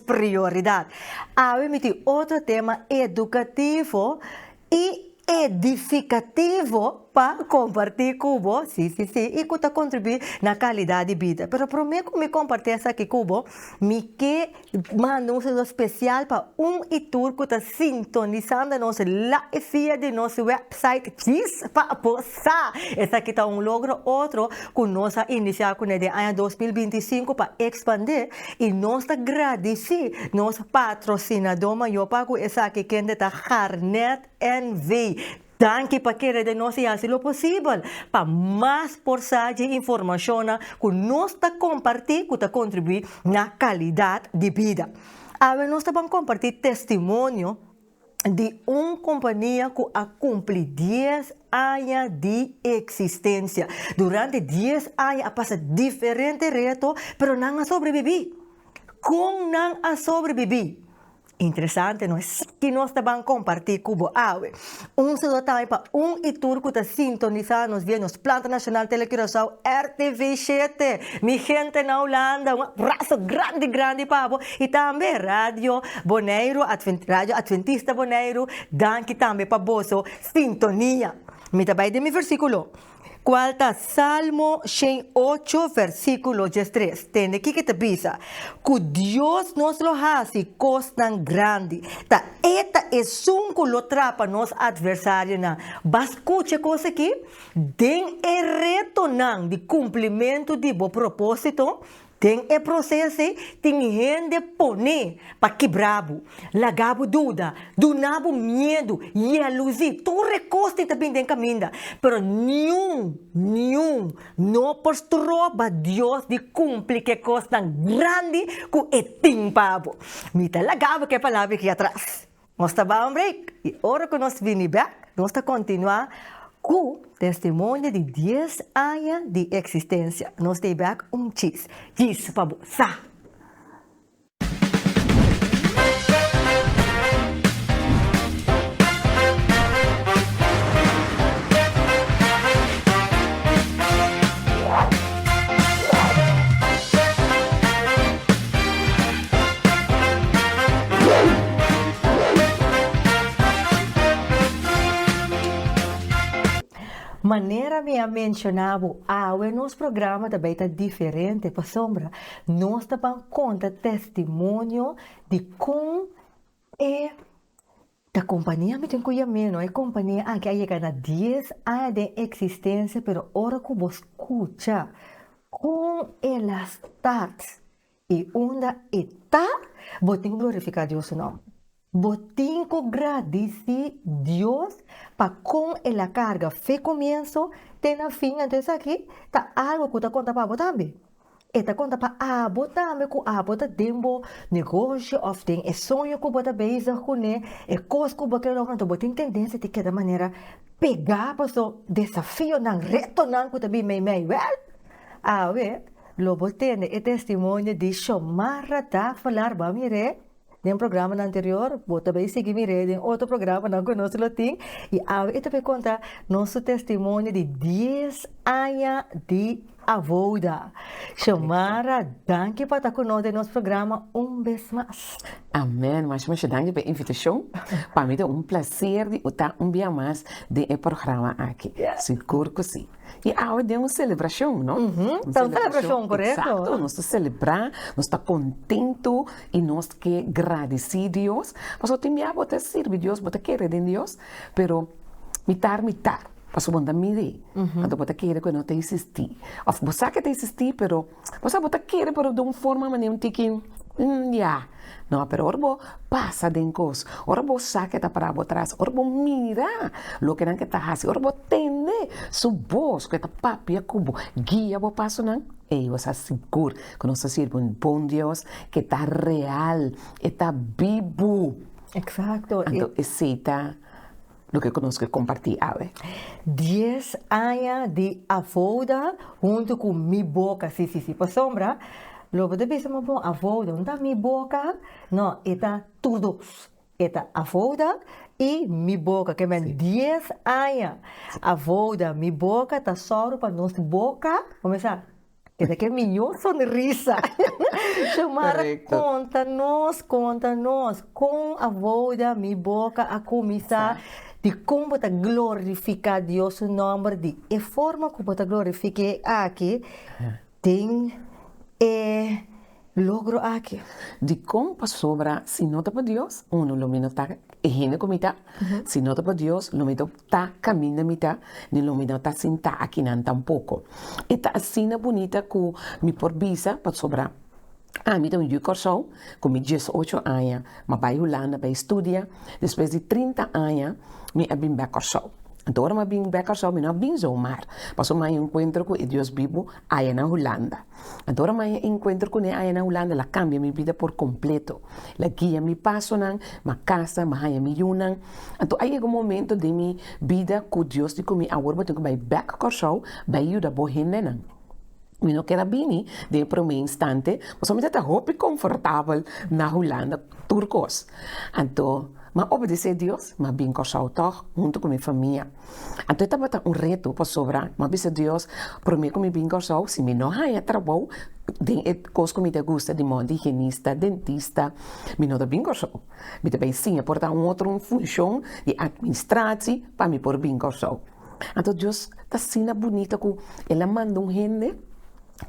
prioridad. Awe mi tin otro tema educativo y edificativo pa comparti cu bo, si, si, si, y cu ta contribui na calidad di bida. Pero prome cu mi comparti esaki cu bo, mi ke manda un saludo special pa un y tur cu ta sintonisando nos live via di nos website Djis pa bo sa! Esaki ta un logro otro cu nos a inicia cu ne den aña dos mil binti i sinku pa expandi. I nos ta gradisí nos patrosinadó mayó pa ku esaki kende ta Garnet NV. Danki pa kere den nos i hasi lo posibel. Pa mas por sa dje informashonnan ku nos ta kompartí ku ta kontribuí na kalidat di bida. Awe nos ta ban kompartí testimonio. di un kompania ku a kumpli dies aña di eksistensia. Durante dies aña a pasa diferente reto, pero nan a sobrebibí. Kon nan a sobrebibí? Interesante, no? Esaki nos ta ban kompartí ku bo awe. Un saludo tambe pa un i tur ku ta sintonisá nos via nos planta nashonal Telecurasao, RTV Shete. Mi gente na Hulanda, un abraso grandi grandi pa bo. Y tambe Radio Boneiru Adventista, Radio Adventista Boneiru, danki tambe pa boso sintonia. Mi ta bai den mi versiculo, cual ta Salmo shen ocho versiculo dies tres. Tende kico ta bisa? Cu Dios nos lo haci cosnan grandi. Ta e ta Esun cu lo trapa nos adversarionan. Bas scucha e cos aki, Den e retonan di cumplimentu di bo propósito, Den e proces ei tin hende pone pa kibrabu, lagabu duda, dunabu miedu, jealousy, tur e cos tin ta bin den caminda, pero niun, niun no por stroba Dios di cumpli ke cosnan grandi cu e tin pa abo. Mi ta lagabu ke palabra aki atras. Nos ta baha un break i ora ku nos bini bèk nos ta kontinuá ku Testimonio di Dies Aña di Eksistensia. Nos ta e bèk un chis. Chis pa bo sa! Manera mi a menshona bo awe nos programa ta bai ta diferente pasobra nos ta ban konta testimonio di kon e Ta compania mi tin cu ya meno, e compania aki a yega na dies aña den existencia pero ora cu bo scucha con ela start y unda e ta bo tin cu glorifica Dios su nomber, bo tin cu gradici Dios pa con ela carga fe comienzo te na fin, enton esaki ta algo cu ta conta pa bo tambe. E ta konta pa abo tambe ku abo ta den bo negoshi òf den e soño ku bo ta bezig kuné, e kos ku bo ke logra, anto bo tin tendensia di keda manera pegá paso desafionan, retonan ku ta bin meimei. Wèl, awe lo bo tende e testimonio di Xiomara Davalar. Ba'mire. Den programanan anterior bo ta bay sigui mir'é den otro programanan cu nos lo tin y awe e ta bay conta nos su testimonio di dies aña di abouda. Xiomara danki pa ta cu nos den nos programa un bes mas. Amen mas mas danki p'e invitacion, pa mi ta un placer di ta un bia mas den e programa aki, sigur cu si. Y awe den un celebracion, no? Uhumm, ta un celebracion, correcto. Exacto, nos ta celebra, nos ta contento y nos ke gradici Dios, pasobra tin bia bo ta sirbi Dios, bo ta kere den Dios, pero mitar mitar, pasobra bo no ta miri, anto bo ta kere cu e no ta existi, of bo sa cu e ta existi pero Bo sa bo ta kere pero den un forma mane un tiki ya no pero ora bo pasa den kos ora bo sa ke ta para bo atras ora bo mira loke nan ke ta hasi ora bo tende su bos ke ta papia ku bo guia bo pasonan ey bo sa sigur ke nos ta sirbi un bon Dios ke ta real e ta bibu anto esey ta. Loke ku nos ke kompartí awe. Dies aña di Avouda huntu ku Mi Boka, sí, sí, sí. Pasobra, lo bo ta bisa, ma bon, Avouda, no ta Mi Boka? No, e ta tur dos. E ta Avouda i Mi Boka. Ke men, dies aña Avouda, Mi Boka ta sòru pa nos boka kuminsá Kende ke miñó sonrisa. Xiomara konta nos konta nos kon a wouda mi boka a kuminsá di kon bo ta glorifiká Dios su nòmber di e forma ku bo ta glorifik'é aki den e Logro aki, dikon pasobra si no ta pa Dios, uno lo mi no ta e hende ku mi ta, si no ta pa Dios, lo mi no ta kaminda mi ta, ni lo mi no ta sintá akinan tampoko. E ta asina bunita ku mi por bisa, pasobra ami ta un yu Kòrsou ku mi dies ocho aña mi a bai Hulanda pa e studia, despues di trinta aña mi a bin bèk Kòrsou. Anto ora mi a bin bèk Kòrsou mi no a bin zomaar, pasobra mi a enkuentro ku e Dios bibu aya na Hulanda. Ador ma e enkuentro ku ne aya na Hulanda la kambia mi bida por kompleto. La guia mi pasonan, ma kasa, ma haña mi yunan. Anto a yega un momento den mi bida ku Dios di ku mi awor bo tin ku bai bèk Kòrsou bai yuda bo hendenan. Mi no ker a bini den e promé instante, pasobra mi tabata hopi komfortabel na Hulanda tur kos. Anto m'a obedesé Dios, m'a bin Kòrsou tòg huntu ku mi famia. Anto e tabata un reto, pasobra mi a bisa Dios, promé ku mi bin Kòrsou, si mi no haña trabou den e kos ku mi ta gusta, di mon di higienista, dentista, mi no ta bin Kòrsou. Mi ta bai siña por ta un otro un funshon di atministrachi pa mi por bin Kòrsou. Anto Dios ta asina bunita ku el a manda un hende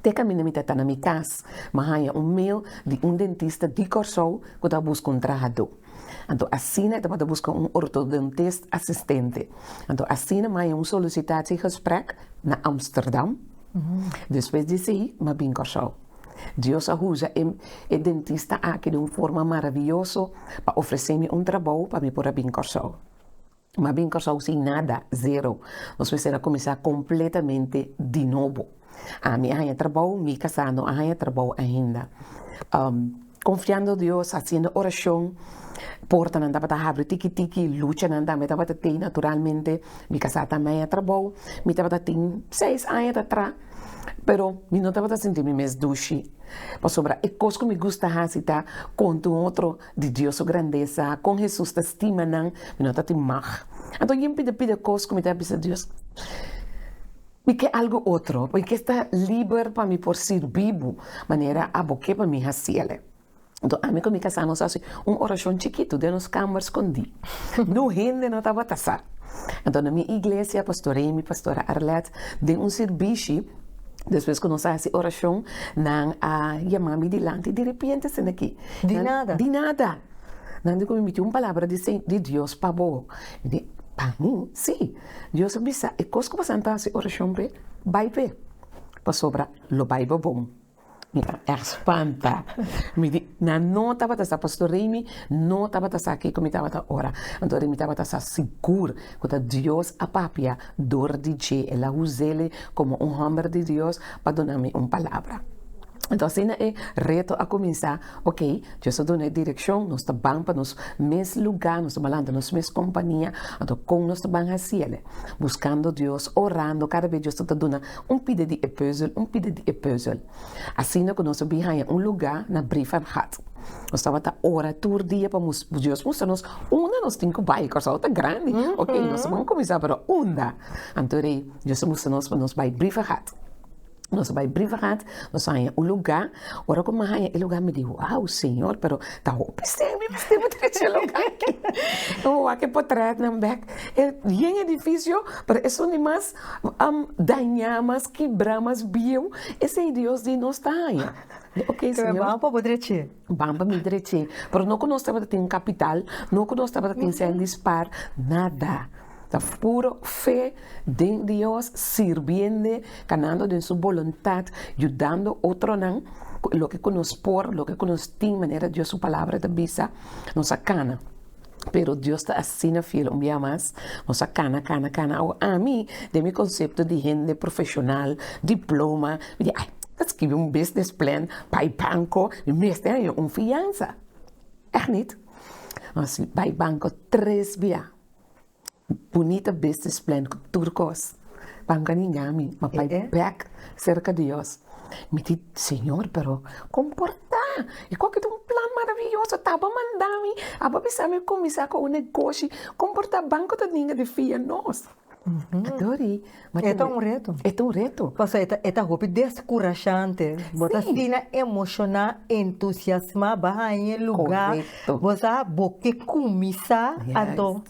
te kaminda mi ta ta na mi kas, mi a haña un mail di un dentista di Kòrsou ku ta buska un trahadó. Anto asina e tabata buska un ortodontist asistente. Anto asina maya un solisitatiegesprék na Amsterdam. Despues di esei m'a bin Kòrsou. Dios a usa e e dentista aki den un forma maravioso pa ofresé mi un trabou pa mi por a bin Kòrsou. Mas bien Kòrsou sin nada, zero. Nos mester a kuminsá kompletamente di nobo. A mi a haña trabou, mi kasá no a haña trabou ainda. Um, konfiando Dios, hasiendo orashon, portanan tabata habri tiki tiki, luchanan tambe tabata tei naturalmente. Mi kasá tambe a haña trabou, mi tabata tin seis aña ta atrás, pero mi no tabata sinti mi mes dushi. Pasobra e kos ku mi gusta hasi ta konta un otro Di Dios su grandesa, kon Hesus ta stima nan, mi no ta tin mag. Anto yin pida pida kos ku mi ta bisa Dios, Mi ke algu otro, mi ke sta liber pa mi por sirbi bo manera a bo ke pa mi hasiele. Anto ami ku mi kasá nos hasi un orashon chikitu den nos kamber skondí. Nu hende no tabata sa. Anto na mi iglesia, Pastor Amy, Pastora Arlette, den un sirbishi, despues ku nos a hasi orashon, nan a yama mi dilanti, Diripiente esei aki. Di nada. Di nada. Nan tin ku mi miti un palabra di se, di Dios pa bo. Mi di, Pa mi? Sí. Dios a bisa, e kos ku bo sa ta hasi orashon p'e, bai p'e, pasobra lo bai bo bon. Mi a èg spanta. Mi di, Nan no tabata sa, Pastor Reimi no tabata sa ke ku mi tabata ora. Anto Reimi tabata sa sigur ku ta Dios a papia dor di dje. El a usa el komo un hòmber di Dios pa duna mi un palabra. Enton asina e reto a kuminsá, ok, Dios ta duna e direkshon, nos ta ban pa nos mes lugá, nos ta balanta nos mes kompania, anto kon nos ta ban hasiele? Buskando Dios, orando, kada bes Dios ta ta duna un pida di e pùzel, un pida di e pùzel. Asina ku nos a bin haña un lugá na Brivanhat. Nos tabata ora tur dia pa Dios mustra nos unda nos tin ku bai. Kòrsou ta grandi, ok, nos ta ban kuminsá pero unda? Anto rei Dios a mustra nos pa nos bai Brivanhat. Nos a bai Briverad, nos a haña un lugá, ora ku mi a haña e lugá mi di, wow Señor, pero ta hopi stèn mi mester ba trese e lugá aki, mi a wak e potrètnan bèk, e bien edifisio, pero esun di mas dañá, mas kibrá, mas bieu, esei Dios di nos ta haña, mi di oke Señor. Ban pa mi dreche, pero no ku nos tabata tin kapital, no ku nos tabata tin sèn dispar, nada. Ta puro fe den Dios, sirbiende, kanando den su boluntat, yudando otronan ku loke ku nos por, loke ku nos tin, manera Dios su Palabra ta bisa, nos a kana. Pero Dios ta asina fiel un bia mas, nos a kana, kana, kana. Awo, ami, den mi konsepto di hende profeshonal, diploma, mi di, ai. Ta skibi un business plan pa e banko i mester haya un fiansa, èch nit? Mas si bai banko tres bia, bunita business plan ku tur kos, banko a ninga mi, a bai bèk serka di Dios. Mi di, Señor, pero kon por ta? I kon ku ta un plan maraviyoso? Ta bo manda mi? Abo bisa mi kuminsá ku un negoshi? Kon por ta banko ta ninga di fia nos? A Dori, ma te Eta un reto. E ta un reto. Pasobra e ta e ta hopi deskurashante. Bo ta Sí. asina emoshoná, entusiasmá, bo a haña e lugá, Korekto. bo sa bo ke kumi sa, Yes. anto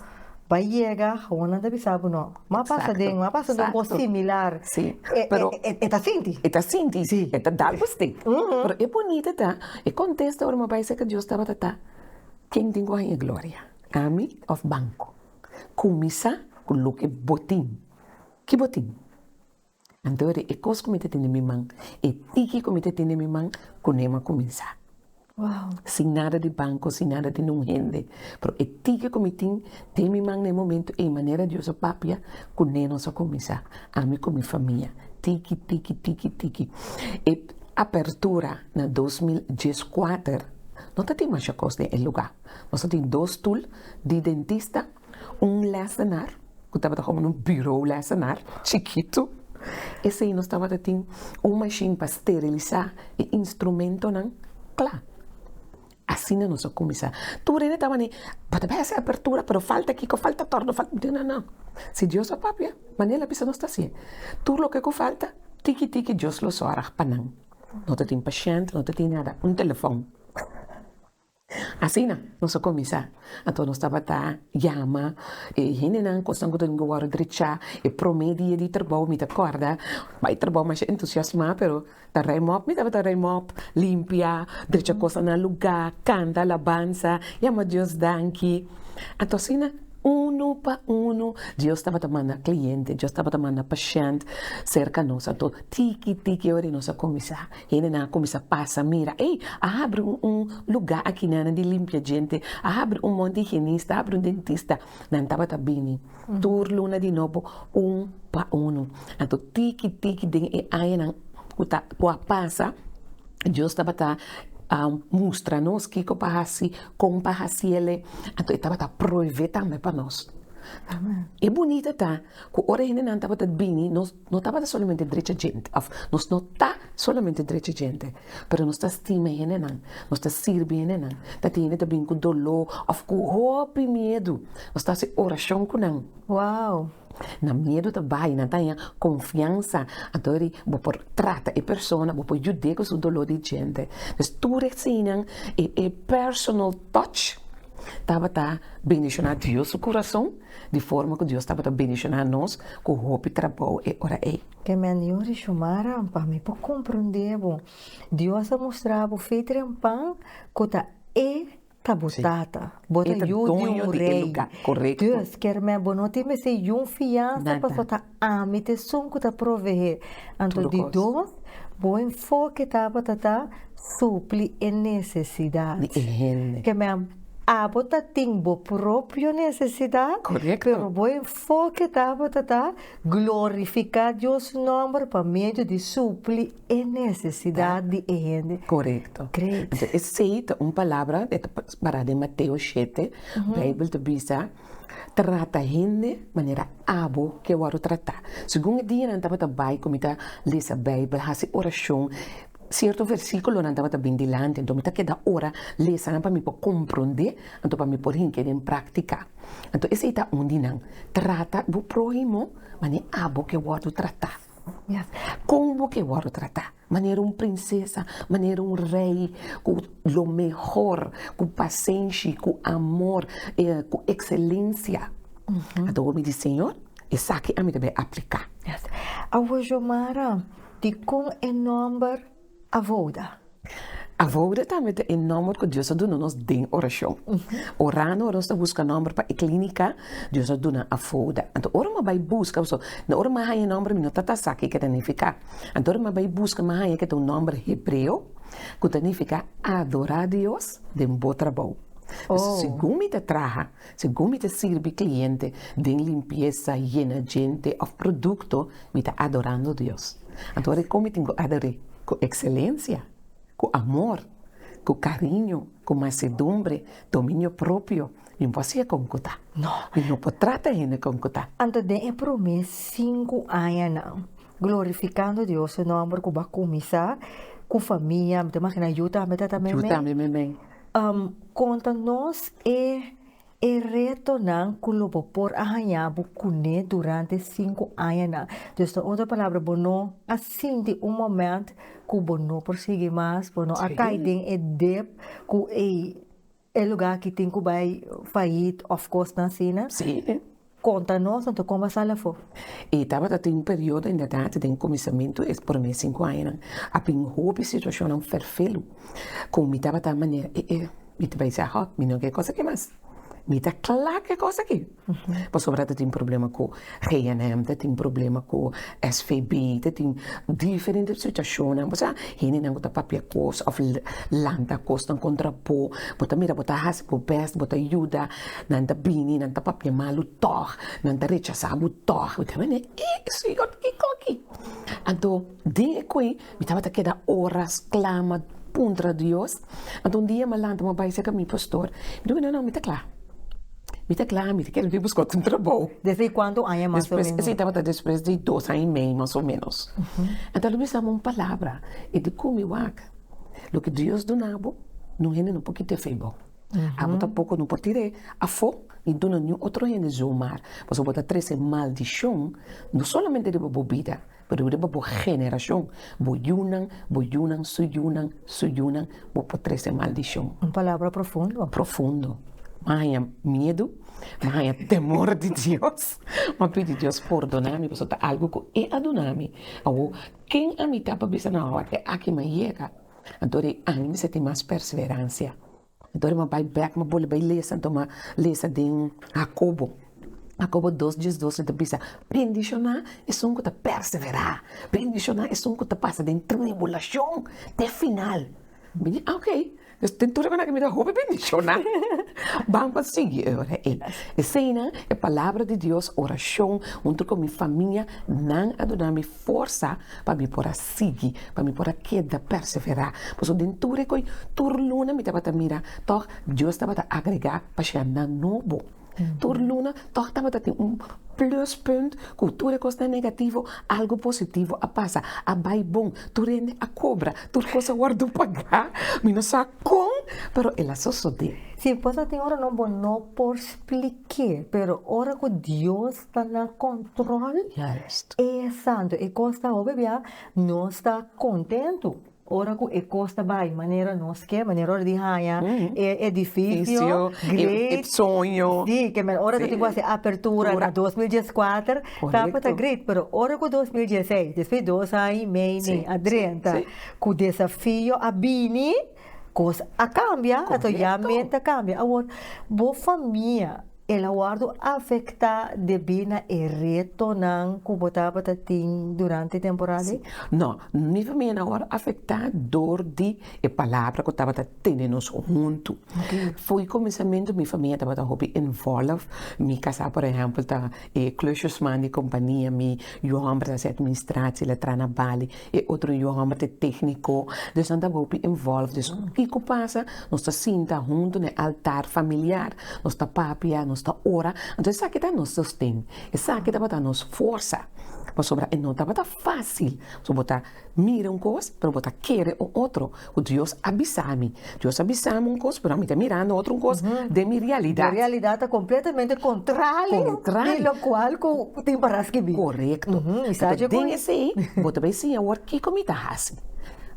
bai yega hounan ta bisa bo no, m'a pasa Exacto, den, m'a pasa den un cos exacto. similar. Sí, E- pero- e- e- e ta sinti. E ta sinti, Sí. e ta dal pusti. Ujú. Pero e bunita ta, e contesta ora mi a bai cerca Dios tabata ta, Ken tin cu a haña gloria? Ami of banco? Kuminsá ku loke bo tin. Ki bo tin? Anto ri e kos ku mi ta tin den mi man, e tiki ku mi ta tin den mi man, kuné mi a kuminsá. Sin nada di banko, sin nada di un hende, pero e tiki ku mi tin den mi man na e momentu ei, manera Dios a papia, kuné nos a kuminsá, ami ku mi famia. Tiki, tiki, tiki, tiki. E apertura na dos mil dieskuater no ta tin masha kos den e lugá. Nos ta tin dos stoel di dentista, un lesenar ku tabata komo un buro lesenar chikitu, esei nos tabata tin un mashin pa sterilisá e instrumentonan kla. Asina nos a kuminsá. Tur hende ta wani, bo ta bai hasi apertura pero falta kiko, falta torno, falta, digo nan nan, si Dios a papia manera el a bisa nos ta hasié, tur loke ku falta tiki tiki Dios lo sòrg pa nan, no ta tin pashènt, no ta tin nada, un telefòn. Asina nos a kuminsá. Anto nos tabata yama e hendenan ku esnan ku ta bin wòrdu drechá. E promé dia di trabou mi ta kòrda bai trabou masha entusiasmá pero ta raim òp. Mi tabata raim òp, limpia, drecha kosnan na lugá, kanta alabansa, yama Dios danki. Anto asina unu pa unu Dios tabata manda kliente, Dios tabata manda pashènt serka nos. Anto tiki tiki ora di nos a kuminsá. Hendenan a kuminsá pasa mira, ey, a habri un un lugá akinana di limpia djente, a habri un monte higienista, a habri un dentista. Nan tabata bini tur luna di nobo un pa unu. Anto tiki tiki den e añanan ku ta ku a pasa, Dios tabata a mustra nos kiko pa hasi, kon pa hasi el, anto e tabata proevé tambe pa nos. E bunita ta ku ora hendenan tabata bini nos No tabata solamente drecha djente, òf, nos no ta solamente drecha djente, pero nos ta stima hendenan, nos ta sirbi hendenan. Tati hende ta bin ku doló òf ku hopi miedu, nos ta hasi orashon ku nan. Wow! Nan miedu ta bai, nan ta haña konfiansa. Anto ri bo por trata e persona, bo por yud'é ku su doló di djente. Pues tur eseinan, e personal touch tabata bendishoná Dios su kurason di forma ku Dios tabata bendishoná nos ku hopi trabou e ora ei. E mendió di Shumara, pa mi por komprondé bo, Dios a mostrá bo fe trempan ku ta E ta bo Tata, bo ta yu di un rei. Dus, kermé bo no tin mester yun fiansa pasobra ta Ami ta esun ku ta proveé. Anto di dos, bo enfoke tabata ta supli e nesesidat. Di e hende. Kem'en, abo ta tin bo propio nesesidat. Korekto. Pero bo enfoke tabata ta glorifiká Dios su nòmber pa medio di supli e nesesidat di e hende. Korekto. Great. Esei ta un palabra, e ta pará den Mateo shete. Beibel ta bisa. Trata hende manera abo ke wòrdu tratá. Segun e dia nan tabata bai ku mi ta lesa Beibel, hasi orashon, sierto versíkulonan tabata bini dilanti, anto mi ta keda ora lesa nan pa mi por komprondé, anto pa mi por hink'é den práktika. Anto esei ta un di nan. Trata bo próhimo manera abo ke wòrdu tratá. Kon bo ke wòrdu tratá? Manera un prinsesa, manera un rei ku lo mehor, ku pasenshi, ku amor, ku ekselensia. Ato mi di, Señor, esaki ami ta bai apliká. Awor Xiomara, dikon e nòmber Avoda? Avoda tambe ta e nòmber ku Dios a duna nos den orashon. Orando ora nos ta buska nòmber pa e klínika, Dios a duna Avoda. Anto ora mi a bai buska, pasobra ora mi a haña e nòmber mi no ta ta sa ke ta nifiká. Anto nan a bai buska mi a haña ke ta un nòmber hebreo ku ta nifiká Adorá Dios den bo trabou. Segun mi ta traha, segun mi ta sirbi kliente den limpiesa, yena djente òf produkto, mi ta adorando Dios. Anto a rikon mi tin ku ador'é? Ku ekselensia, ku amor, ku kariño, ku mansedumbre, dominio propio. Nin por hasié kon ku ta. No. Nin no por trata hende kon ku ta. Anto den e promé sinku añanan, glorifikando Dios su nòmber ku bo a kuminsá ku famia, mi ta imaginá yu tambe ta ta meimei. Yu tambe meimei. Konta nos e e retonan ku lo bo por a haña bo kuné durante e sinku añanan. Dus na otro palabra bo no a sinti un moment ku bo no por sigui mas, bo no a kai den e dep ku ei E lugar aki tin cu bay fayit of cosnan asina? Sí pe. Conta nos anto con basal afo. E tabata tin un periodo inderdaad den cuminsamentu e prome cinco añanan a bin hopi situacionnan ferfelu con mi tabata manera e e mi ta bay sa ho mi no ke cos aki mas mi ta cla ke cos aki. Pasobra ta tin problema ku GNM, ta tin problema ku SVB, ta tin diferente situashonnan. Kusai hendenan ku ta papia kos òf lanta kosnan kontra bo, bo ta mira bo ta hasi bo bèst, bo ta yuda, nan ta bini, nan ta papia malu tòg, nan ta rechasá bo tòg. Bo ta wende, E e señor kiko aki? Anto den e koi Mi tabata keda oras clama puntra Dios. Anto un dia ma lanta ma bai cerca mi pastor. Mi di cu no no mi ta cla. Mi ta cla mi ta keda bai busca otro trabao. Despues di cuanto aña mas o menos? Esey tabata despues di dos aña y medio mas o menos. Enta lo bisa mi un palabra y di cu mi wak loke Dios dunabo no hende no por kite fe bo. Abo tampoco no por tire afo ni duna niun otro hende zomar pasobra bo ta trece maldicion no solamente riba bo bida. Pero riba bo generacion, bo yunan, bo yunan, su yunan, su yunan, bo por trece maldicion. Un palabra profundo. Profundo. M'a haña miedu, m'a haña temor di Dios, m'a pidi Dios pordona mi pasobra ta algo cu E a duna mi. Awo, ken ami ta pa bisa na hora aki m'a yega, anto di anima mi sinti mas perseverancia. Dor ma bai bek ma bole bai lesa anto ma lesa den Hakobo Hakobo dos dies doce ta bisa bendishona esun ku ta perseverá bendishona esun ku ta pasa den tribulashon te final mi di ok pues den tur esaki mi ta hopi bendishona banba sigui ora e eseinan e palabra di Dios orashon huntu ku mi famia nan a duna mi. Forsa pa mi por a sigui, pa mi por a keda perseverá. Pasobra den tur e koe, tur luna mi tabata mira tòg Dios tabata agregá pashianan nobo. Tur luna tòg tabata tin un pluspunt ku tur e kosnan negativo algu positivo a pasa, a bai bon, tur hende a kobra, tur kos a wòrdu pagá. Mi no sa kon, pero el a sosodé. Si, por eso tin ora bo no por splik'é, pero ora ku Dios ta na control e santo e cos ta hopi bia nos ta contento ora cu e cos ta bay manera nos ke manera ora di haya e edificio great si kimen ora ta tin cu haci apertura na dos mil dies kuater tambe ta great pero ora cu dos mil dies seis despues dos aña y medio adrenta cu desafio a bini cos a cambia ato ya men ta cambia awor bo famia. El a wòrdu afektá debí na e retonan ku bo tabata tin durante e temporada ei? No. Mi famia no a wòrdu afektá dor di e palabra ku tabata tene nos huntu. Fu e kuminsamentu mi famia tabata hopi invòlv. Mi kasá, por ehèmpel, ta e klusjesman di kompania mi. Yu hòmber ta hasi administratie, el a traha na Bali. E otro yon amba ta e tékniko, dus nan ta hopi involved. Dus kiko pasa? Nos ta sinta huntu na e altar familiar, nos ta papia, nos ta ora. Anto esaki ta nos sosten, esaki tabata nos forsa. Pasobra e no tabata fásil, pasobra bo ta mira un kos, pero bo ta kere un otro. Ku Dios a bisami. Dios a bisami un kos, pero ami ta mirando otro un kos den mi realidat. Mi realidat ta kompletamente kontrali di lokual ku tin para skibí. Korekto. Entonces den esei bo ta bai siña wòrd kiko mi ta hasi.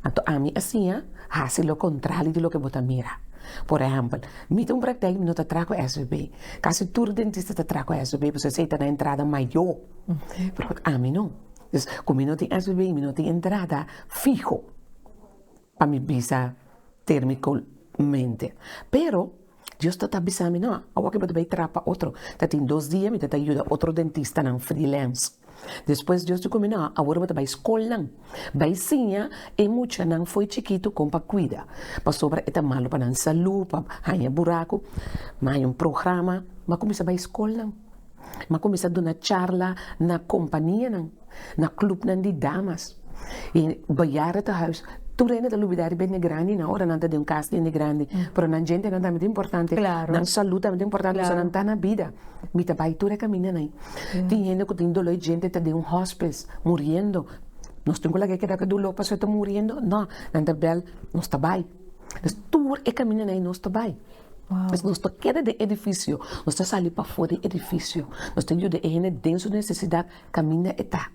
Anto ami a siña hasi lo kontrali di loke bo ta mira. Por ehèmpel, mi tin un praktèk mi no ta traha ku svb. Kasi tur dentista ta traha ku svb pasobra esei ta na entrada mayó. Pero ami no. Ku mi no tin svb i mi no tin entrada fiho. pa mi bisa termicolmente. Pero Dios ta ta bisa mi, no, awo ke bo ta bay trapa otro. Ta tin dos dia mi ta ta yuda otro dentistanan freelance. Despues Dios dico mi, no, awor bo ta bay scolnan, bay siña e muchanan fo'i chikitu con pa cuida, pasobra e ta malo pa nan salud, pa haña buracu. Mi haña un programa, mi a cuminsa bay scolnan. m'a kuminsá duna charla na kompanianan, na klupnan di damas, i bejaardentehuis. Tur hende ta lubidá riba hende grandi nan ora nan ta den un kas di hende grandi, pero nan djentenan tambe ta importante, nan salú tambe ta importante pasobra nan ta na bida. Mi ta bai tur e kaminda nan. Tin hende ku tin doló, e djente ta den un hòspes muriendo, nos tin ku laga e keda ku e doló pasobra e ta muriendo? No, nan ta bèl, nos ta bai. Pues tur e kamiña ei nos ta bai. Pues nos ta keda den edifisio, nos ta sali pafó di edifisio, nos ta yuda e hende den su nesesidat kaminda e ta.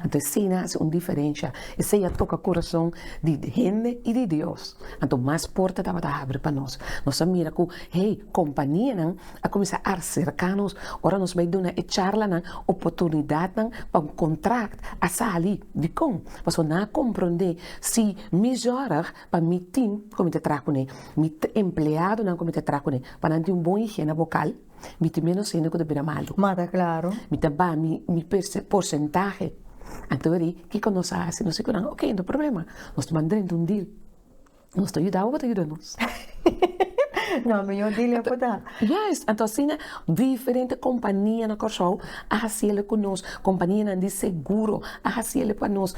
Anto esei nan a hasi un diferensha, esei a toka kurason di hende i di Dios, anto mas porta tabata habri pa nos. Nos a mira ku hey kompanianan a kuminsá arserká nos ora nos bai duna e charlanan oportunidatnan pa un kontrakt a sali. Dikon? Pasobra nan a komprondé si mi zòrg. Pa mi team ku mi ta traha kuné, mi empleadonan ku mi ta traha kuné, pa nan tin un bon higiena bokal, mi tin ménos hende ku ta bira malu. Ma ta klaru. Mi ta ba mi mi porsentahe. Anto ri kiko nos a hasi? Nos di ku nan, Oke, no problema. Nos ta ban drenta un dil. Nos ta yuda bo, bo ta yuda nos. No, mihó dil ya ku ta. Yes, anto asina diferente kompania na Kòrsou a hasiel ku nos. Kompanianan di seguro a hasiel pa nos.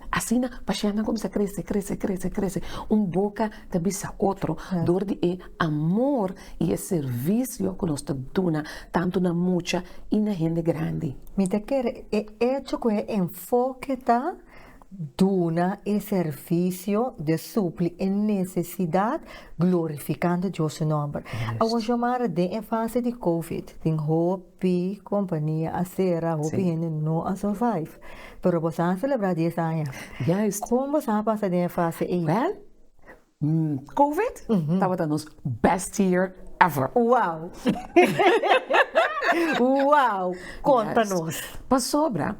Asina pashennan kuminsá krese, krese, krese, krese. Un boka ta bisa otro dor di e amor i e servisio ku nos ta duna tantu na mucha i na hende grandi. Mi ta kere e echo ku e enfoke ta duna e servisio di supli e nesesidat glorifikando Dios su nòmber. Awor Xiomara den e fase di covid tin hopi. P compania a cera hopi hende no a survive pero bo sa celebra dies aña con bo sa pasa den e fase ey. Well covid tabata nos best year ever. Wow wow conta nos. Pasobra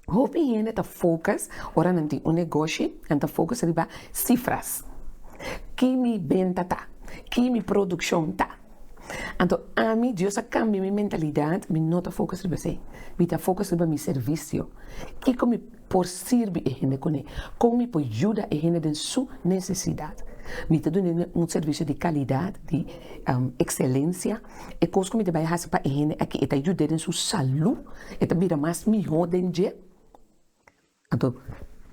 hopi hende ta focus ora nan tin un negoshi nan ta focus riba cifras ki mi benta ta ki mi produccion ta Anto ami, Dios a kambia mi mentalidad, mi no ta focus riba esei, mi ta focus riba mi servicio. Kiko mi por sirbi e hende kuné? Kon mi por yuda e hende den su necesidad? Mi ta duna hende un servicio di calidad, di um, excelencia. E kos ku mi ta bai hasi pa e hende aki, e ta yud'é den su salú, e ta bira mas mihó den dje. Anto,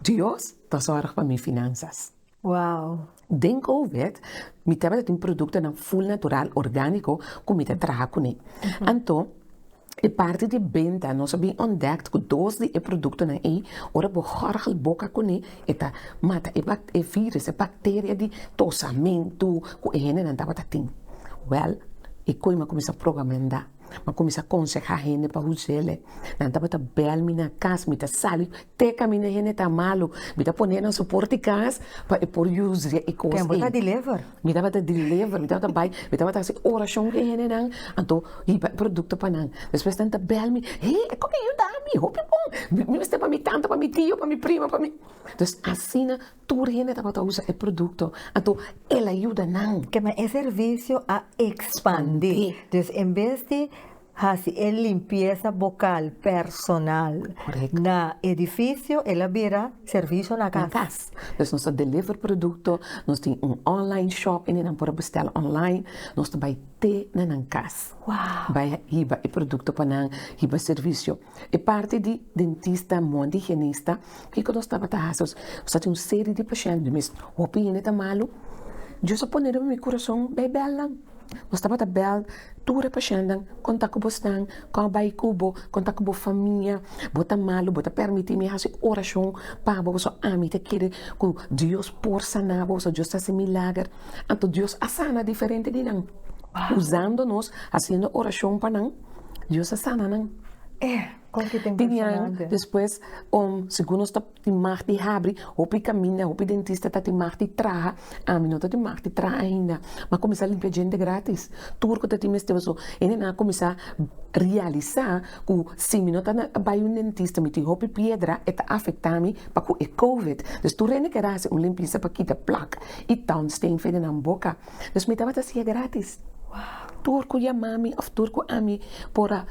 Dios ta zorg pa mi finansas. Wow! Den Covid, mi tabata tin produktonan ful natural, orgániko ku mi ta traha kuné. Anto, e parti di benta nos a bin ontdekt ku dos di e produktonan ei, ora bo gòrgel boka kuné, e ta mata e bak, e vírùs, e bakteria di tosamentu ku e hendenan tabata tin. Wèl, e koima kuminsá proba menda. a kuminsá konsehá hende pa hus'é lei. Nan tabata bèl mi na kas, mi ta sali te kaminda hende ta malu, mi ta pon'é nan su por di kas pa e por yusa e kos ei. Tempu ta deliver. Mi tabata deliver, mi tabata bai, mi tabata hasi orashon ku e hendenan, anto hiba e produkto pa nan. Despues nan ta bèl mi, he e kokiyu dami, hopi bon, mi mester pa mi tanta, pa mi tio, pa mi prima, pa mi. Entonces asina Tur hende tabata usa e produkto, anto el a yuda nan. Kema e servisio a ekspandi, dus en bes di hasi e limpiesa bokal personal na edifisio, el a bira servisio na kas. Na kas. Dus nos ta deliver produkto, nos tin un online shop hende nan por a bustèl online, nos ta bai te na nan kas, bai a hiba e produkto pa nan, hiba servisio. E parti di dentista mon di higienista kiko nos tabata hasi nos a tin un serie di pashente mes hopi hende ta malu Dios a pone riba mi kurason bay bel nan nos tabata bel tur e pashentenan kon ta kobo stan kon bay kobo kon ta kobo famia bo ta malu bo ta permiti mi hasi oracion pa bo pasobra ami ta kere ku Dios por sana bo pasobra Dios ta hasi milager anto Dios a sana diferente di nan uzando nos haciendo oracion pa nan. Dios a sana nan. Tinian despues om segun nos ta tin mag di habri hopi caminda hopi dentista ta tin mag di traha ami no ta tin mag di traha ainda ma comisa limpia djente gratis tur cu ta tin mester pasobra e nene a comisa realisa cu si mi no ta bay un dentista mi tin hopi piedra e ta afectami pacu e covid dus tur e na kier haci un limpieza pa kita plak y townstain federnan boca. Dus mi tabata siña grátis. Tur ku yama mi òf tur ku ami por a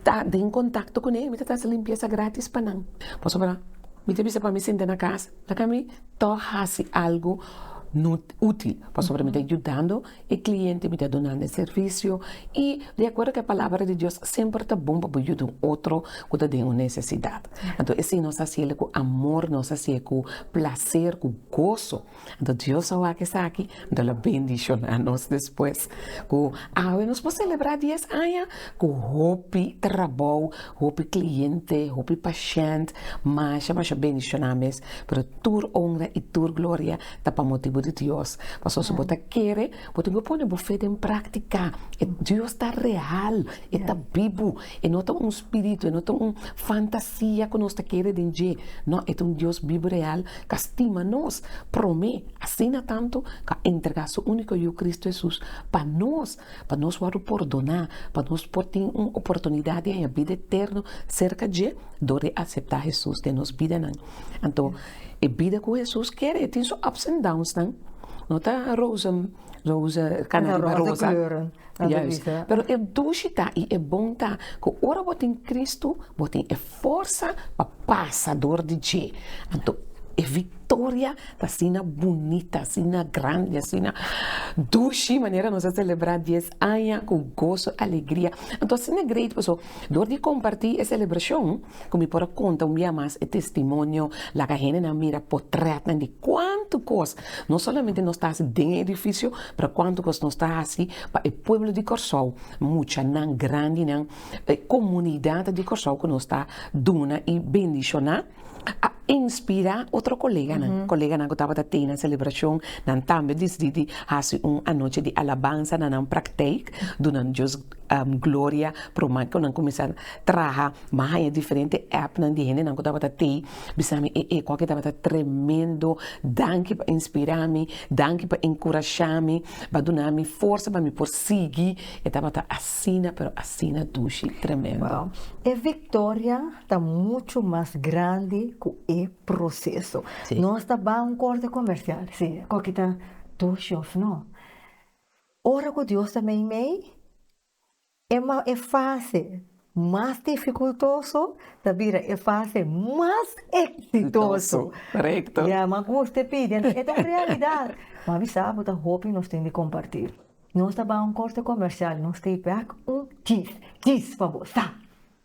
ta den kontakto kuné mi ta hasi limpiesa grátis pa nan. Pasobra mi ta bisa pa mi sinta na kas laga mi ta hasi algu útil pasobra mi ta yudando e kliente mi ta dunando e servisio i di akuerdo ku e palabra di Dios semper ta bon pa bo yuda un otro ku ta den un nesesidat anto e si nos hasiel ku amor nos hasiel ku plaser ku goso. Anto Dios a wak esaki, anto El a bendishoná nos despues ku awe nos por selebrá dies aña ku hopi trabou, hopi kliente, hopi pashènt, masha masha bendishoná mes. Pero tur onra i tur gloria ta pa motibu di Dios, pasobra si bo ta kere Bo tin cu pone bo fe den practica. E Dios ta real, e ta bibu, e no ta un spiritu, e no ta un fantasia cu nos ta kere den dje, no, e ta un Dios bibu real ca stima nos prome, asina tantu ca a entrega su unico Yu Cristo Jesus pa nos, pa nos wordo pordona, pa nos por tin un oportunidad di haña bida eterno cerca dje dor di acepta Jesus den nos bidanan. Anto. E bida ku Hesus kere e tin su ups and downsnan, no ta roze roze kana riba roza, juist, pero e dushi ta i e bon ta ku ora bo tin Kristu bo tin e forsa pa pasa dor di dje, anto e viktoria ta asina bunita, asina grandi, asina dushi manera nos a selebrá dies aña ku goso, alegria, anto asina great paso dor di kompartí e selebrashon. Ku mi por a konta un bia mas e testimonio, laga hendenan mira potrètnan di kuantu kos no solamente nos ta hasi den e edifisio, pero kuantu kos nos ta hasi pa e pueblo di Kòrsou, muchanan, grandinan, e komunidat di Kòrsou ku nos ta duna i bendishoná, a inspirá otro koleganan. Koleganan ku tabata tei na selebrashon, nan tambe disidí di hasi un anochi di alabansa na nan praktijk, dunando Dios Gloria promé cu nan cuminsa traha mi a haña diferente appnan di hendenan cu tabata tey bisa mi ee cuaki tabata tremendo danki pa inspira mi danki pa encurasha mi pa duna mi forsa pa mi por sigui e tabata asina pero asina dushi tremendo. E victoria ta mucho mas grandi cu e proceso nos ta bay un corte comercial si cuaki ta dushi of no. Ora ku Dios ta meimei, e mau e fase mas difikultoso ta bira e fase mas eksitoso. Korekto. Ya, m'a gusta e pidi, anto e ta un realidat. M'a bisa bo ta hopi nos tin di kompartí. Nos ta bai un korte komersial, nos ta e bèk un kis, kis pa bo, sa!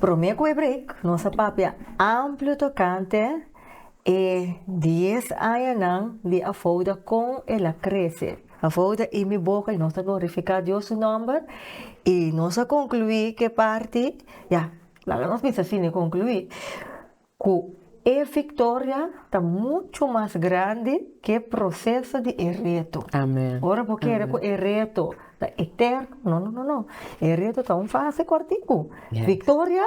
Promé ku e break nos a papia amplio tokante e dies añanan di Afouda kon el a krese. Afouda i mi boka i nos ta glorifiká Dios su nòmber i nos a konkluí ku e parti ya laga nos bisa fini konkluí. Ku e viktoria ta muchu mas grandi ku e proseso di e reto. Ora bo kere ku e reto ta eterno, no, no, no, no. E reto ta un fase kòrtiku. Viktoria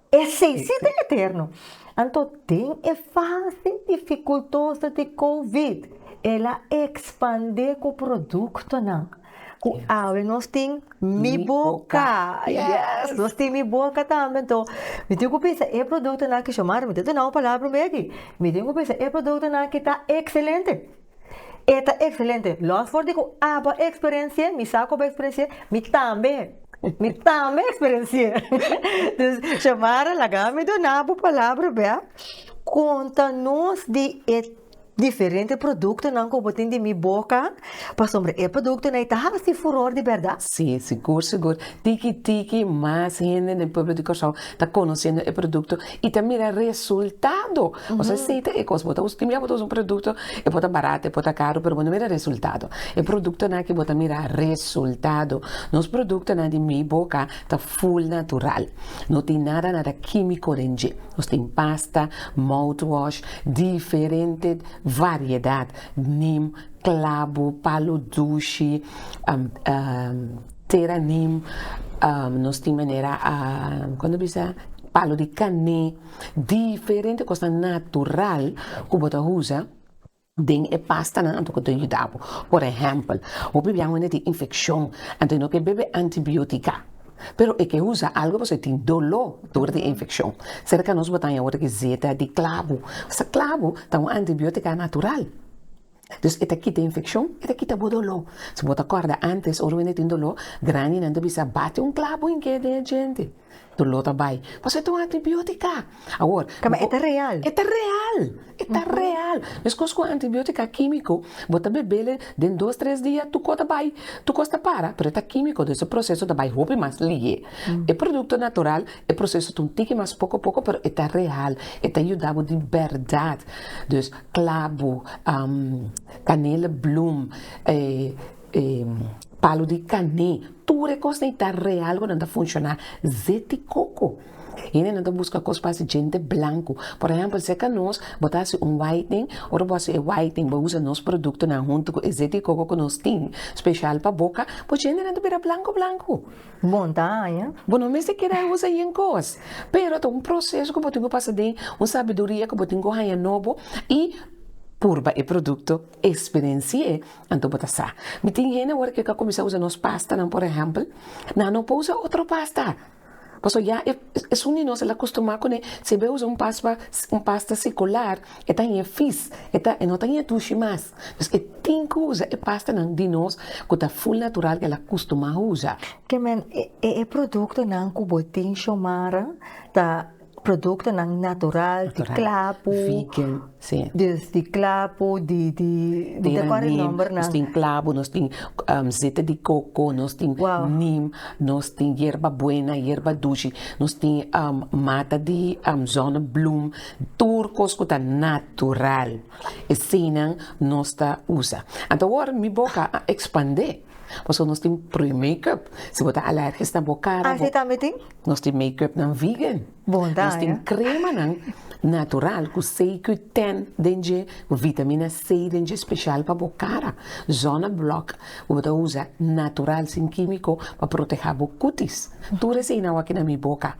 esei si ta eterno. Anto den e fase difikultoso di covid, el a ekspandé ku produktonan. Cu awe nos tin Mi Boca. Yes! Nos tin Mi Boca tambe. Toh, mi tin cu pensa e productonan aki, Xiomara, mi ta duna un palabra un bey aki. Mi tin cu pensa e productonan aki ta excelente. E ta excelente. Los for di cu aba experenci'e, mi sa cu aba experenci'e, mi tambe, mi tambe experenci'e. Dus, Xiomara, laga mi duna bo palabra bey a. Conta nos di e. Diferente produktonan ku bo tin di mi boka, pasobra e produktonan ei ta hasi furor di bèrdat. Sí, sigur sigur, tiki tiki mas hende den pueblo di Kòrsou ta konosendo e produkto i ta mira resultado. Bo sa seta e kos, bo ta usa, timia bo ta usa un produkto, e por ta barato, e por ta karu, pero bo no mira resultado. E produktonan aki bo ta mira resultado. Nos produktonan di mi boka ta full natural, no tin nada nada kímiko den dje. Nos tin pasta, mouthwash, diferente variedat, neem, clavo, palo dushi, tera neem, nos tin manera con ta bisa palo di cane, diferente cos natural cu bo ta usa. Den e pastanan anto ku ta yuda bo. Por ehèmpel, hopi biaha wende tin infekshon, anto no ke bebe antibiótika. Pero e ke usa algu pasobra e tin doló tur di e infekshon. Serka nos bo ta haña worde ki zeta di klabu. Sa klabu ta un antibiótika natural. Dus e ta kita infekshon, e ta kita bo doló. Si bo ta kòrda ántes ora wende tin doló, grandinan ta bisa, Bati un klabu en ke den e djente. Dolor ta bai. Pasobra e ta un antibiotica. Awor. Ta ma e ta real. E ta real. E ta real. Mescos cu antibiotica quimico, bo ta bebele den dos, tres dia tu cor ta bai. Tu cos ta para, pero e ta quimico, dus e proceso ta bai hopi mas lihe. E producto natural, e proceso ta un tiki mas poco poco, pero e ta real. E ta yuda bo di berdad. Dus, clavo, canela bloem. E palu di kané, tur e kos dei ta real ku nan ta funshoná zeti koko. Hende nan ta buska kos pa hasi djente blanku. Por ehèmpel, ser ka nos, bo ta hasi un whitening, ora bo hasi e whitening bo usa nos produktonan huntu ku e zeti koko ku nos tin speshal pa boka, bo djentenan ta bira blanku blanku. Monta aña. Bo no mester keda usa yen kos, pero ta un proseso ku bo tin ku pasa den, un sabiduria ku bo tin ku haña nobo i purba e produkto. Experienci'e, anto bo ta sa. Mi tin hende awor ke ka kuminsá usa nos pastanan, por ehèmpel, nan no por usa otro pasta, pasobra ya e esun di nos el a kustumá kuné, si e bai usa un paspa un pasta sikular e ta ña fis, e ta e no ta ña dushi mas, dus e tin ku usa e pastanan di nos ku ta ful natural ku el a kustumá usa. Ke men e e produktonan ku bo tin, Xiomara, ta Productonan natural di clapu, di clapu, no ta acorda e nomber nan. Nos tin clapu, nos tin zeta di coco, nos tin nim, nos tin yerba buena, yerba dushi, nos tin mata di zona bloem, tur cos cu ta natural esey nan nos ta usa. Anto awor mi boca a expande. Pasobra nos tin pre makeup si bo ta alergies na bo cara bo nos tin makeup nan vegan nos tin crema nan natural cu cqten den dje cu vitamina c den dje special pa bo cara zona block cu bo ta usa natural sin kimico pa proteha bo cutis tur esey nan awor aki na mi boca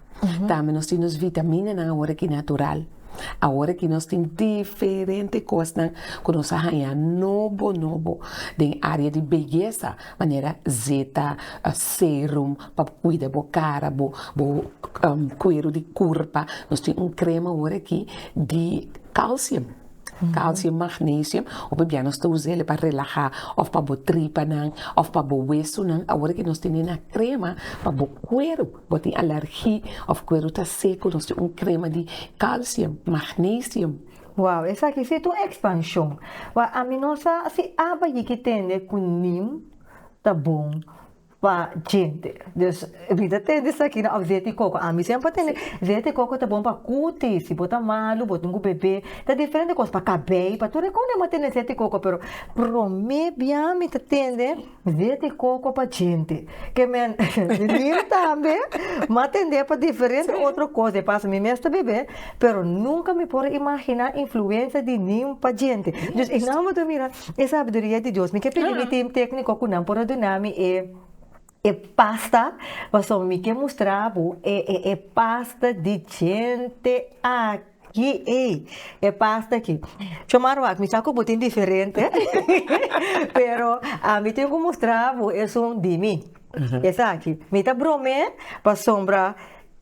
tambe nos tin nos vitamina nan awor aki natural. Awor aki nos tin diferente kosnan ku nos a haña nobo nobo den área di beyesa, manera zeta, serum pa kuida bo kara, bo bo kueru di kurpa, nos tin un krema awor aki di kalsium, kalsium magnesium ku p'ebia nos ta us'é pa relahá òf pa bo tripanan òf pa bo wesunan, awor aki nos tene na krema pa bo kueru. Bo tin alergi of cuero ta seco nos tin un crema di calcium, magnesium. Wow esaki si ta un expansion wak ami no sa si aba yiki tende cu nim ta bon pa djente dus Rita tende esaki of zeet di coco ami si anba tende zeet di coco ta bon pa cutis si bo ta malu bo tin cu bebe ta diferente cos pa cabei pa tur e con ema tende zeet di coco pero prome biami ta tende. Dia di koko pa djente. Ke men di nin tambe, mi a tendé pa diferente otro kos di paso. Mi mes ta bebé, pero nunka mi por a imaginá influensia di nin pa djente. Dus i nan bo ta mira e sabiduria di Dios. Mi ke pidi mi tim tékniko ku nan por a duna mi e e pasta, pasobra mi ke mustra bo e e pasta di djente aki. Yi ei e pasta aki chomar wak mi sa ku bo tin diferente pero a mi tin ku mustra bo esun di mi esaki mi ta brome pasobra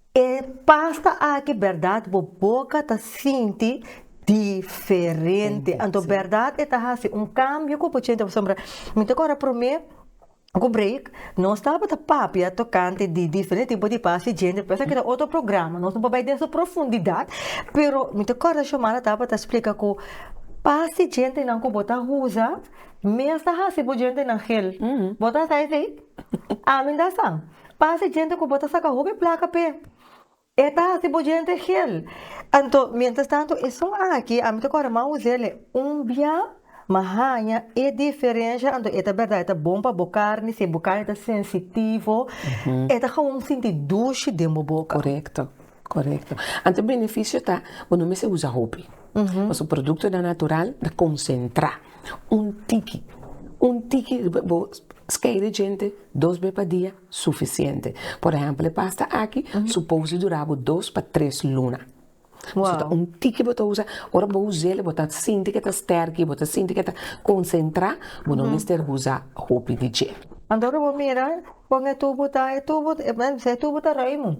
e pasta aki berdad bo boka ta sinti diferente anto berdad e ta hasi un kambio ku bo chente pasobra mi ta kor a prome. Ku break nos tabata papia tokante di diferente tipo di pas di djente pero esaki ta otro programa nos no por bai den su profundidat pero mi ta kòrda Xiomara tabata splika ku pas di djentenan ku bo ta usa mes ta hasi bo djentenan gel bo ta sa esei? ami ta sa pas di djente ku bo ta saka hopi plaka p'e. E ta hasi bo djente gel. Anto, mientras tanto esun aki ami ta kore mau usele un bia, ma haña e diferensha anto e ta berdad e ta bon pa bo carni si bo carni ta sensitivo e ta gewoon sinti dushi den bo boca. Correcto, correcto. Anto e beneficio ta bo no mester usa hopi, pasobra productonan natural ta concentra, un tiki, un tiki riba bo skei de djente dos be pa dia. sufisiente. Por ehèmpel e pasta aki supos di dura bo dos pa tres luna. Su ta un tiki bo ta usa, ora bo us'el bo ta sinti ke ta stèrki, bo ta sinti ke ta konsentrá, bo no mester usa hopi di dje. Anto ora bo mira kon e tubo ta, e tubo ta ruimu,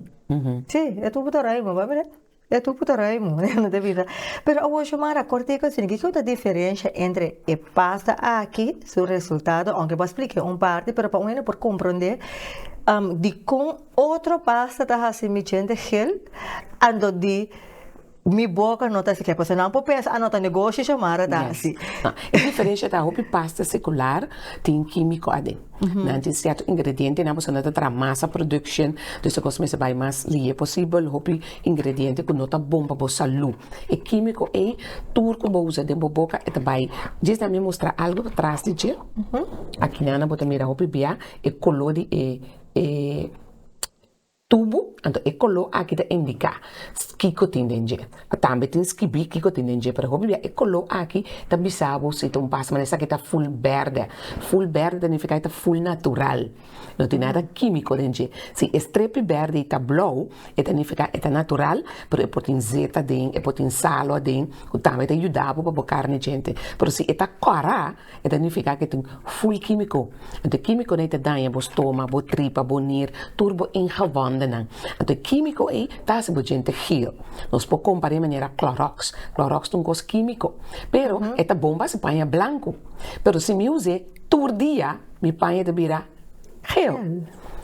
sí e tubo ta ruimu, bo a mira. E tupu ta raimo e no ta bisa pero awocho mara a corte ecu a sini kico ta diferencia entre e pasta aki su resultado aunke bo a splica un parti pero pa un hende por comprende dicon otro pasta ta hasi mi djente gel anto di mi boca no ta hasi gel pasobra nan por pensa a no ta negoshi cho mara ta hasi. E diferencia ta hopi pasta secular tin kimico aden. nan tin cierto ingrediente nan pasobra nan ta traha masa production dus ta cos mester bay mas liye posibel hopi ingrediente cu no ta bon pa bo salud e quimico ey tur cu bo usa den bo boca e ta bay djis nan mi mustra algo tras di dje aki nan bo ta mira hopi bia e color di e Tubu, anto e koló aki ta indiká kiko tin den dje. A tambe tin skibí kiko tin den dje, pero hopi bia e koló aki ta bisa bo si ta un pas, man esaki ta ful bèrdè. Ful bèrdè ta nifiká i ta ful natural, no tin nada kímiko den dje. Si e strepi bèrdè i ta blou, e ta nifiká e ta natural, pero e por tin zeta den, e por tin salo aden, ku tambe ta yuda bo pa bo karni djente. Pero si e ta kòrá. E ta nifiká ku e tin ful kímiko. Anto e kímikonan ei ta daña bo stómak, bo tripa, bo nier, tur bo ingewondennan. Anto e kímiko ei ta hasi bo djente giel. Nos por kompar'é manera klòròks. Klòròks ta un kos kímiko, pero e ta bon pa hasi paña blanku. Pero si mi us'é tur dia, mi paña ta bira gel.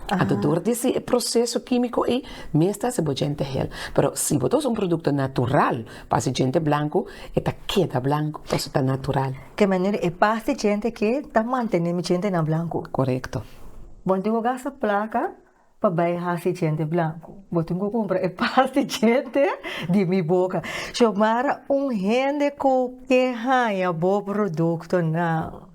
Anto dor di hasi e proseso kímiko ei, mi mester hasi bo djente gel. Pero si bo ta usa un produkto natural, Pa si djente blanku e ta keda blanku paso ta natural. Ke manera e pas di djente ke ta mantene mi djentenan blanku? Korekto. Bo tin ku gasta plaka pa bai hasi djente blanku. Bo tin ku kumpra e pas di djente di mi boka. Xiomara, un hende ku ke haña bo produktonan,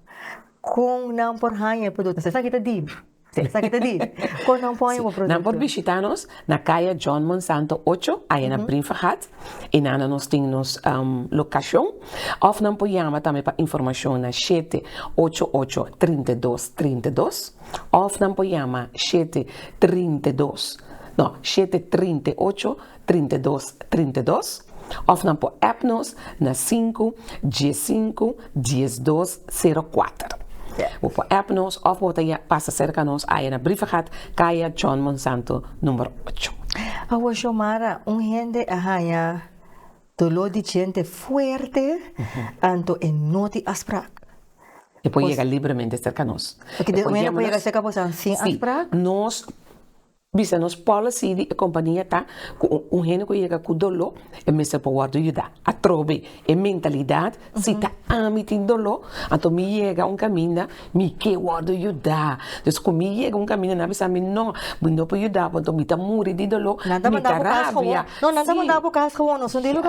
kon nan por haña e produktonan? Esaki ta dibi. Esaki ta di, kon nan pon bo produkto? Nan por bishita nos na kaya John Monsanto ocho, aya na Brinfergat, i na nan nos tin nos lokashon, òf nan por yama tambe pa informashon na shete ocho ocho trinta i dos trinta i dos, òf nan por yama shete trinta i dos, no, shete trinta i ocho. trinta i dos trinta i dos òf nan por app nos na sinku dies sinku dies dos sero kuater. Bo por app nos òf bo ta pasa serka nos aya na Briefergat, Kaya John Monsanto number ocho. Awa Xiomara, un hende a haña doló di djente fuerte anto e no tin afsprak. E por yega libremente serka nos. Oke, di un hende por yega serka boso sin afsprak? Sí, nos. Bisa nos policy di e compania ta cu un hende cu yega cu dolo e mester por wordo yuda. Atrobe e mentalidad si ta ami tin dolo anto mi yega un caminda mi ke wordo yuda. Dus cu mi yega un caminda nan a bisa mi no mi no por yuda bo anto mi ta muri di dolo mi ta rabia.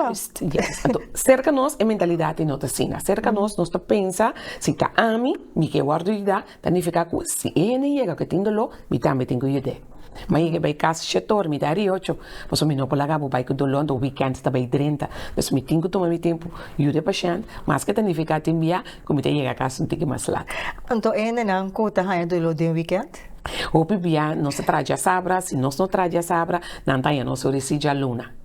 Juist yes anto cerca nos e mentalidad di no ta asina cerca nos nos ta pensa si ta ami mi ke wordo yuda Ta nifiká ku si e hende yega ku e tin doló, mi tambe tin ku yud'é. Mi a yega bai kas Shetor, mi da riocho, pasobra mi no por laga bo bai ku doló, anto wikènt ta bai drenta. Por eso mi tin ku tuma mi tempu, yud'é pashènt, maske ta nifiká tin bia ku mi ta yega kas un tiki mas lat. Anto e hendenan ku ta haña doló den wikènt? Hopi bia nos ta traha djasabra, si nos no traha djasabra, nan ta haña nos ori si djaluna.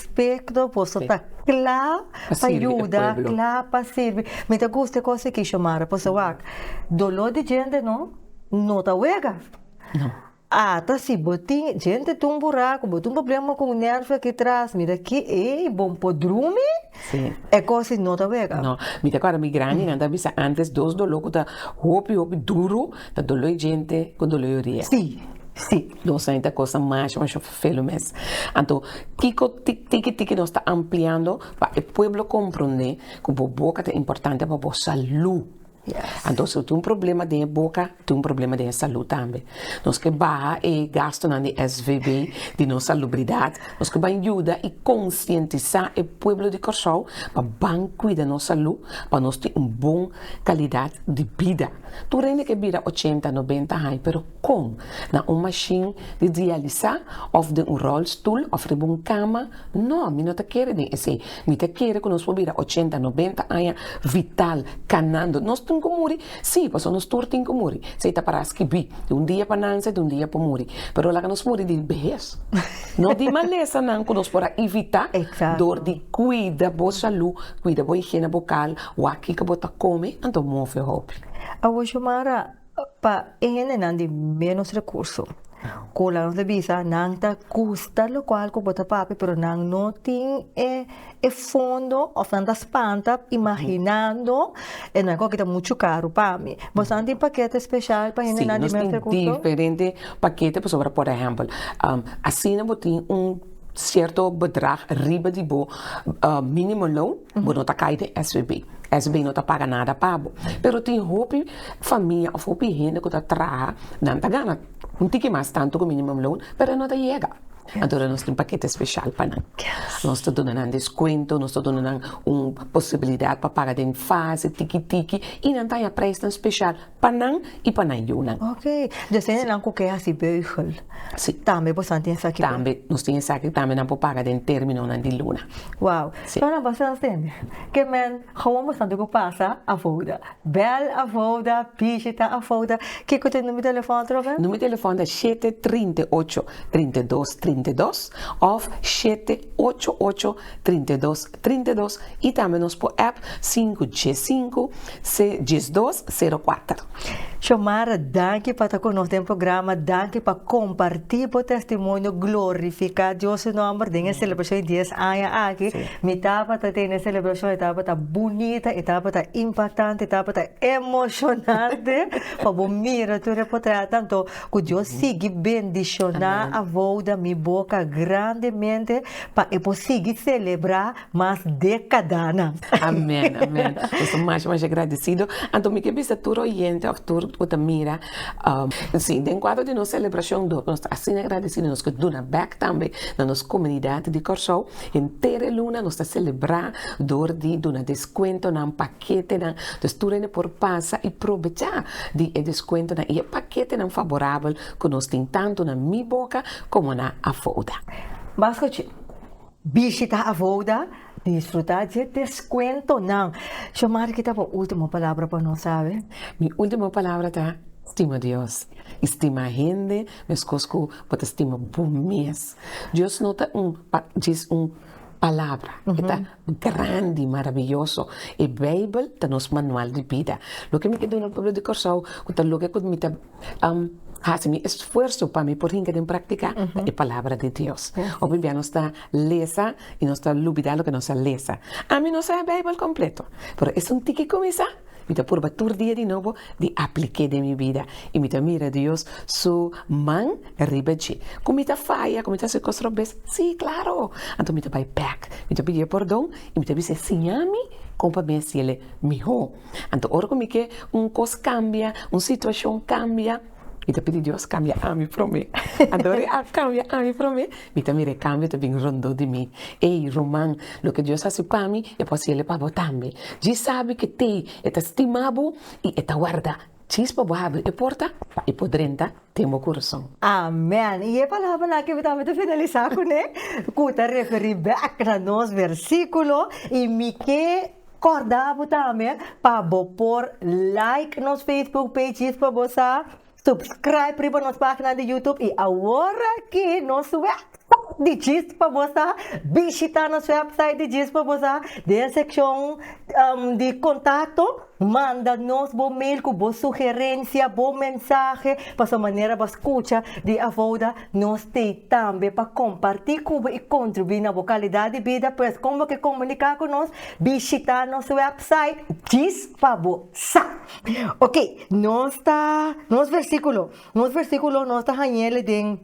Spectro boso ta cla pa yuda cla pa sirbi mi ta gusta e cos aki Xiomara pasobra wak dolor di gente no no ta wega ata si bo tin gente tin un buraco bo tin un problema con nervio aki tras mira ki ey bo bo drumi e cos aki no ta wega. No mi ta acorda mi grandi nan ta bisa antes dos dolor cu ta hopi hopi duro ta dolor di gente cu dolor di orea dos aña ta cosa masha masha Velu mes. Anto, kiko tiki tiki nos ta ampliando pa e pueblo comprende cu bo boca ta importante pa bo salud? Anto, si bo tin un problema den e boca, tin un problema den e salud tambe. Nos ke baha e gastonan di SVB, di nos salubridad. Nos ke ban yuda y concientisa e pueblo di Corsou pa ban cuida nos salud pa nos tin un bon calidad di bida. Tur hende ke bira ochenta, nobenta haña pero. Kon, na un mashin di dialisá òf den un ròlstoel òf riba un kama? Nò, mi no ta kere den esei. Mi ta kere ku nos por bira ochenta, nobenta aña vital, kanando. Nos tin ku muri? Sí, pasobra nos tur tin ku muri. Esei ta pará skibí. Di un dia pa nanse, di un dia pa muri. Pero laga nos muri di behes, no di malesanan ku nos por a ivitá dor di kuida bo salú, kuida bo higiene bokal, wak kiko bo ta kome, anto move hopi. Awoshomara, Pa e hendenan di ménos rekurso, Cola nos ta bisa nan ta gusta lokual ku bo ta papia pero nan no tin e fondo òf nan ta spanta imaginando e nan kon ki ta muchu karu pa mi. Bosadan tin pakete speshal pa hendenan di ménos rekurso? Sí, nos tin diferente pakete pasobra por ehèmpel asina bo tin un. cierto bedrag riba di bo minimum loan, bo no ta cay den SBB. SBB no ta paga nada pa bo. Pero tin hopi famia of hopi hende cu ta traha, nan ta gana un tiki mas tanto cu minimum loan, pero e no ta yega. Anto nos tin paquete special pa nan. Nos ta duna nan descuento, nos ta duna nan un posibilidad pa paga den fase, tiki tiki, y nan ta haya prijsnan special. Pa nan i pa nan yunan. Ok, dja sende nan ku ke hasi beugel. Si. Tambe boso nan tin esaki. Tambe, nos tin esaki tambe nan por paga den terminonan di luna. Wow. Si. Solo nan por haci asende. Ke men, gewoon boso nan tin ku pasa Avoda. Bel Avoda, bishita Avoda. Kiko ta e number telefòn otro bes? Number telefòn ta shete trinta i ocho, trinta i dos, trinta i dos òf shete ocho ocho, trinta i dos. trinta i dos i tambe nos por app sinku dies sinku se dies dos sero kuater. Xiomara, danki pa ta ku nos den programa, danki pa kompartí bo testimonio, glorifiká Dios su nòmber den e selebrashon di dies aña aki. Mi tabata tene e selebrashon, e tabata bunita, e tabata impaktante, e tabata emoshonante, pa bo mira tur e potrètnan. Anto, ku Dios sigui bendishoná abou, dami boka grandemente. Pa e por sigui celebra mas decadanan. Amen, amen. Nos ta masha masha gradicido. Anto mi ke bisa tur oyente of tur cu ta mira, si, den cuadro di nos celebracion dor, nos ta asina gradicido nos ke duna bek tambe na nos comunidad di Corsou. Henter e luna nos ta celebra dor di duna descuentonan pa. ketenan, dus tur hende por pasa i probechá di e deskuentonan i e paketenan faborabel ku nos tin tantu na Mi Boca komo na Avouda. Mas ku dje, bishita Avouda i disfrutá dje deskuentonan. Xiomari, kita bo último palabra pa nos awe? Mi último palabra ta, Stima Dios i stima hende meskos ku bo ta stima bo mes. Dios no ta un djes un palabra, e ta Grandi, marabiyoso. E Beibel ta nos manual di bida. Loke mi ke duna pueblo di Kòrsou ku ta loke ku mi ta hasi mi esfuerso pa mi por hinka den praktika, ta e Palabra di Dios. Hopi bia nos ta lesa i nos ta lubidá loke nos a lesa. Ami no sa e Beibel kompleto, pero esun tiki kuminsá. Mi ta purba tur dia di nobo di aplik'é den mi bida i mi ta mira Dios su man riba dje. Ku mi ta faya, ku mi ta hasi kos robes? Sí, klaro! Anto mi ta bai bèk, mi ta pidié pordon i mi ta bisa e, Siñami kon pa mi hasiel mihó. Anto ora ku mi ke un kos kambia, un situashon kambia, Mi ta pidi Dios cambia ami prome. Adore a cambia ami prome, mi ta mira e cambio ta bin rondó di mi. Ey, ruman, loke Dios haci pa mi, e por haciele pa bo tambe. Dji sabi ke t'ey, e ta stima bo y e ta warda chispa bo habri e porta pa e por drenta den bo corazon. Amen! Y e palabranan ke mi tambe ta finalisa cu ne, cu ta referi bek na nos versiculo y mi ke Corda bo tambe pa bo por like nos Facebook page Jisba bo sa subscribe riba nos pagina di YouTube y awor aki nos website di Jisba bo sa bishita nos website di Jisba bo sa den seccion di contacto manda nos bo mail cu bo sugerencia bo mensahe pasobra manera bo a scucha di Avoda Nos te tambe pa kompartí ku bo i kontribuí na bo kalidat di bida. Pues kon bo ke komuniká ku nos? Bishitá nos wèpsait djis pa bo sa. Oke, nos ta, nos versíkulo, nos versíkulo nos ta hañ'é den,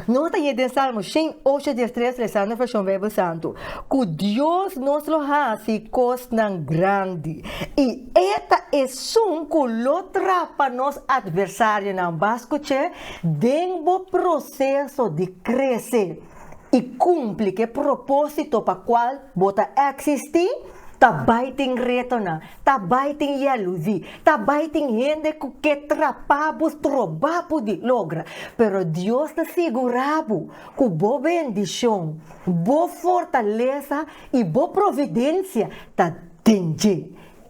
nos ta yen den Salmo shen ocho dies tres, Resando Vershon Beibel Santu, ku Dios nos lo hasi kosnan grandi i e ta esun ku lo trapa nos atversarionan. Bas kuch'é Den bo proseso di krese i kumpli ku e propósito pa kual bo ta eksistí, ta bai tin retonan, ta bai tin yèludi, ta bai tin hende ku ke trapá bo strobá bo di logra. Pero Dios ta sigurá bo ku bo bendishon, bo fortalesa i bo providensia ta den dje.